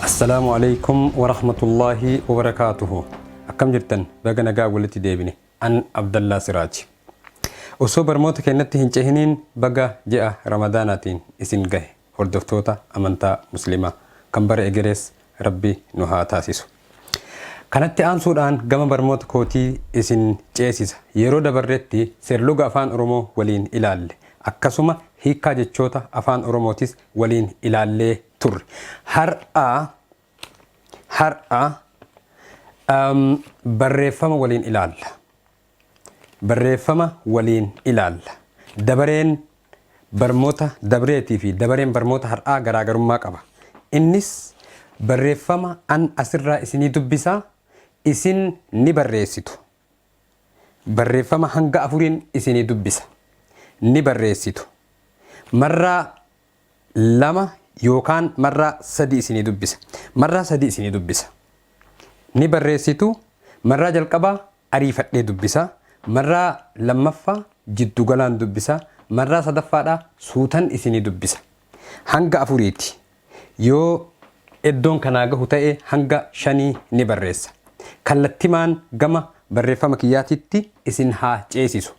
Assalaamu Aleykum Warahmatullaahi Wabarakaatuhu Akkam jirtan baga nagaan walitti deebine an Abdallaa Siraaj Osoo barmoota keennatti hin cehiniin baga ji'a Ramadaanaatiin isin gahe hordoftoota amantaa muslimaa kan bara egerees rabbi nu haa taasisu. Kanatti aansuudhaan gama barmoota kootii isin ceesisa. Yeroo dabarretti seerluga Afaan Oromoo waliin ilaalle. Akkasuma hiikkaa jechoota Afaan Oromootis waliin ilaallee turre. Har'a har'a barreeffama waliin ilaalla. Barreeffama waliin ilaalla. Dabareen barmoota dabreetii fi dabareen barmoota har'aa garaagarummaa qaba. Innis barreeffama an asirraa isinii dubbisa isin ni barreessitu. Barreeffama hanga afuriin isinii dubbisa. Ni barreessitu. Marraa lama yookaan marraa sadii isinii dubbisa. Marraa sadii isinii dubbisa. Ni barreessitu. Marraa jalqabaa ariifadhee dubbisa. Marraa lammaffaa jiddu galaan dubbisa. Marraa sadaffaadhaa suutan isinii dubbisa. Hanga afuriiti. Yoo eddoon kanaa gahu ta'e hanga shanii ni barreessa. Kallattimaan gama barreeffama kiyyaatitti isin haa ceesisu.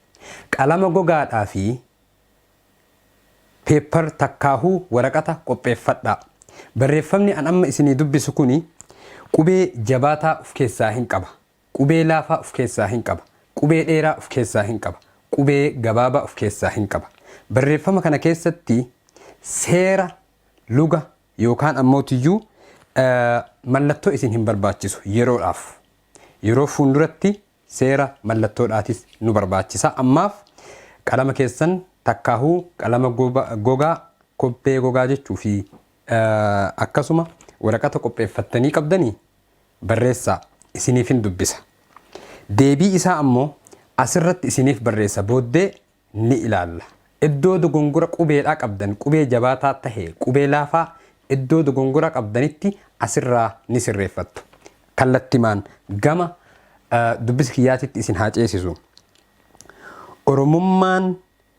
Qalama gogaadhaa fi Paper takkaahuu waraqata qopheeffadhaa. Barreeffamni an amma isinii dubbisu kuni qubee jabaataa uf keessaa hin qaba. Qubee laafaa uf keessaa hin qaba. Qubee dheeraa uf keessaa hin qaba. Qubee gabaabaa uf keessaa hin qaba. Barreeffama kana keessatti seera luga yookaan ammootiyyuu mallattoo isin hin barbaachisu yeroodhaaf. Yeroo fuunduratti Seera mallattoodhaatis nu barbaachisa. Ammaaf qalama keessan takkaahuu qalama gogaa, kobbee gogaa jechuu fi akkasuma waraqata qopheeffattanii qabdanii barreessaa isiniifin dubbisa. Deebii isaa ammoo asirratti isiniif barreessa booddee ni ilaalla. Iddoo dogongora qubeedhaa qabdan qubee jabaataa tahe qubee laafaa iddoo dogongora qabdanitti asirraa ni sirreeffattu. Kallattimaan gama dubbisa kiyyaatitti isin haa ceesisu. Oromummaan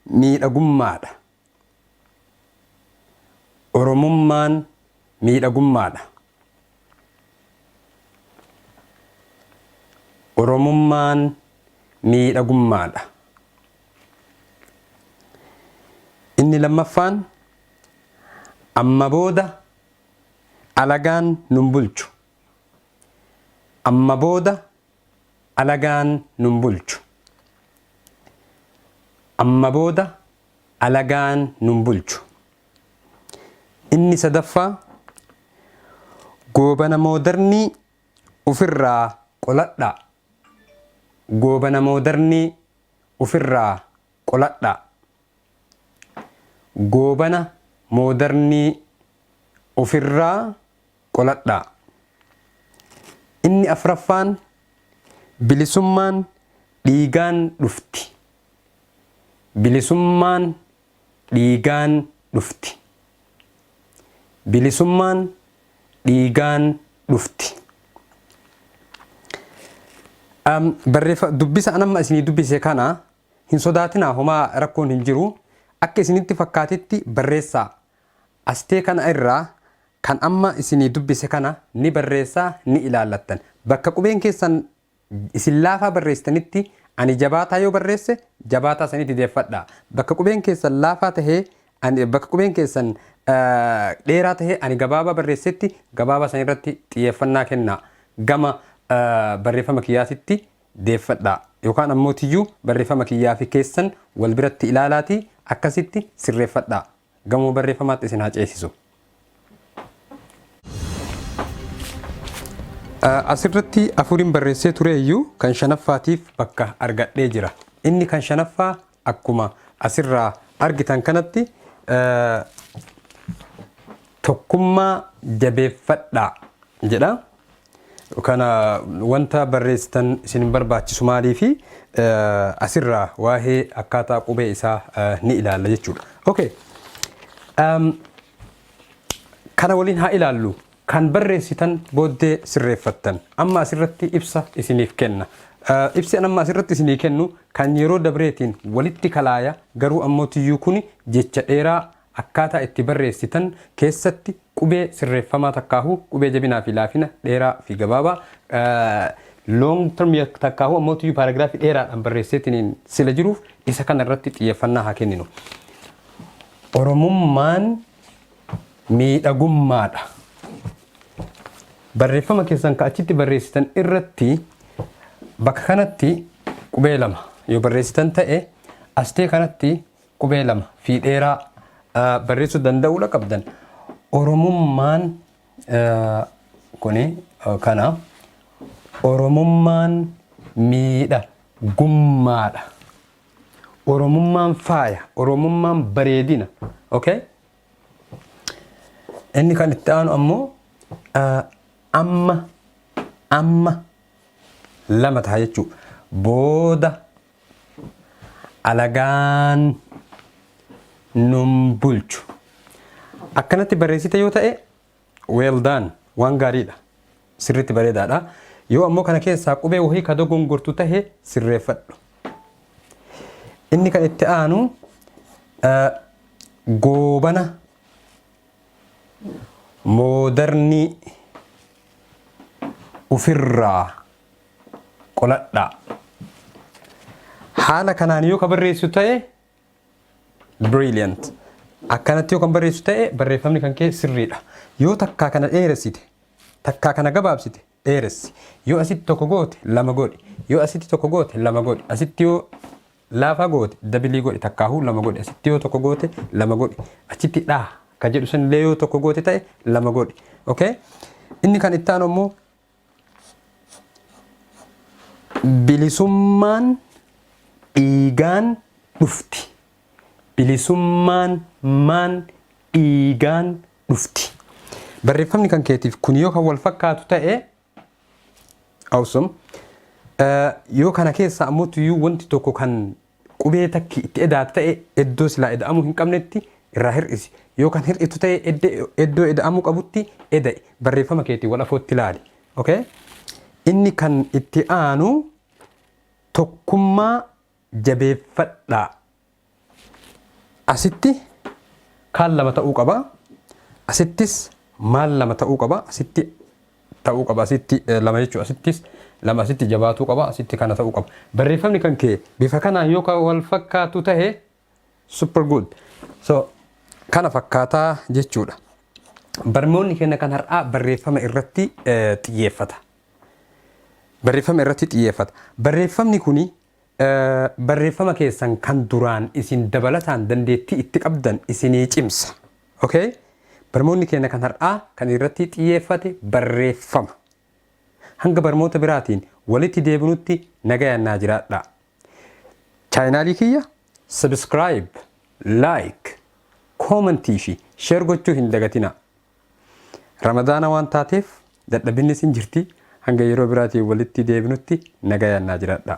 miidhagummaadha. Oromummaan miidhagummaadha. Oromummaan miidhagummaadha. Inni lammaffaan amma booda alagaan nun bulchu. Amma booda alagaan nun bulchu. Amma booda alagaan nun bulchu. Inni sadaffaa, goobana moodarnii ufirraa qoladhaa. Goobana moodarnii ufirraa qoladhaa. Goobana moodarnii ufirraa qoladhaa. Inni afraffaan, bilisummaan dhiigaan dhufti. Bilisummaan dhiigaan dhufti. Bilisummaan dhiigaan dhufti. Barreeffa dubbisa an amma isinii dubbise kana hin sodaatinaa homaa rakkoon hin jiru akka isinitti fakkaatetti barreessaa. Astee kana irraa kan amma isinii dubbise kana ni barreessaa ni ilaallattan. Bakka qubeen keessan Isin laafaa barreessitanitti ani jabaataa yoo barreesse jabaataa sanitti deeffadha. Bakka qubeen keessan laafaa tahee ani bakka qubeen keessan dheeraa tahee ani gabaabaa barreessetti gabaabaa san irratti xiyyeeffannaa kennaa. Gama barreeffama kiyyaatitti deeffadha. Yookaan ammoo tiyyuu barreeffama kiyyaa fi keessan wal biratti ilaalaatii akkasitti sirreeffadha. Gamoo barreeffamaatti isin haa ceesisu. Asirratti afuriin barreessee ture iyyuu kan shanaffaatiif bakka argadhee jira. Inni kan shanaffaa akkuma asirraa argitan kanatti tokkummaa jabeeffadhaa jedha. Kana wanta barreessitan isin hin barbaachisu maaliifi asirraa waa'ee akkaataa qubee isaa ni ilaalla jechuudha. Okay. Um, kana waliin haa ilaallu kan barreessitan booddee sirreeffattan amma asirratti ibsa isiniif kenna. Uh, ibsi an amma asirratti isinii kennu kan yeroo dabreetiin walitti kalaaya garuu ammoo tiyyuu kun jecha dheeraa Akkaataa itti barreessitan keessatti qubee sirreeffamaa takkaahuu qubee jabinaa fi laafina, dheeraa fi gabaabaa, long term takkaahuu ammootiyyuu paaragiraafii dheeraadhaan barreesseetiniin sila jiruuf isa kana irratti xiyyeeffannaa haa kenninu. Oromummaan miidhagummaadha. Barreeffama keessan ka achitti barreessitan irratti bakka kanatti qubee lama yoo barreessitan ta'e astee kanatti Qubee lama fi dheeraa barreessuu danda'uudha qabdan. Oromummaan kuni kana Oromummaan miidha gummaadha. Oromummaan faaya, Oromummaan bareedina. Okay? Inni kan itti aanu ammoo amma amma lama ta'a jechuudha. Booda Alagaan nun bulchu. Akkanatti barreessite yoo ta'e well done waan gaariidha. Sirriitti bareedaadha. Yoo ammoo kana keessaa qubee wahii ka dogongortu tahe sirreeffadhu. Inni kan itti aanu eh, goobana moodarnii ofirraa qoladhaa. Haala kanaan yoo ka barreessu ta'e brilliant. Akkanatti yoo kan barreessu ta'e barreeffamni kan kee sirriidha. Yoo takkaa kana dheeressite, takkaa kana gabaabsite dheeressi. Yoo asitti tokko goote lama godhi. Yoo asitti tokko goote lama godhi. Asitti yoo laafaa goote dabilii godhi takkaahuu lama godhi. Asitti yoo tokko goote lama godhi. Achitti dhaa ka jedhu sanillee yoo tokko goote ta'e lama godhi. Okay? Inni kan itti aanu immoo Bilisummaan dhiigaan dhufti. Bilisummaan maan dhiigaan dhufti. Barreeffamni kan keetiif kun yoo kan wal fakkaatu ta'e awesome. Yoo kana keessa ammoo tuyyuu wanti tokko kan Qubee takki itti eda'atu ta'e eddoo silaa eda'amuu hin qabnetti irraa hir'isi. Yoo kan hir'itu ta'e eddoo eda'amuu qabutti eda'i. Barreeffama keetiin wal afootti ilaali. Ok? Inni kan itti aanu tokkummaa jabeeffadhaa. Asitti kaan lama ta'uu qaba. Asittis maal lama ta'uu qaba. Asitti ta'uu qaba asitti lama jechuudha asittis lama asitti jabaatuu qaba asitti kana ta'uu qaba barreeffamni kan kee bifa kanaan yoo kan wal fakkaatu ta'e super good so kana fakkaataa jechuudha barnoonni keenya kan har'aa barreeffama irratti xiyyeeffata barreeffama irratti xiyyeeffata barreeffamni kuni Barreeffama keessan kan duraan isin dabalataan dandeettii itti qabdan isinii cimsa. Ok? Barmoonni keenya kan har'aa kan irratti xiyyeeffate barreeffama. Hanga barmoota biraatiin walitti deebinutti nagayaan naa jiraadhaa. Chaayinaalii kiyya subscribe, like, comment fi share gochuu hin dagatinaa. Ramadaana waan taateef dadhabinnis hin jirti. Hanga yeroo biraatiin walitti deebinutti nagayaan naa jiraadhaa.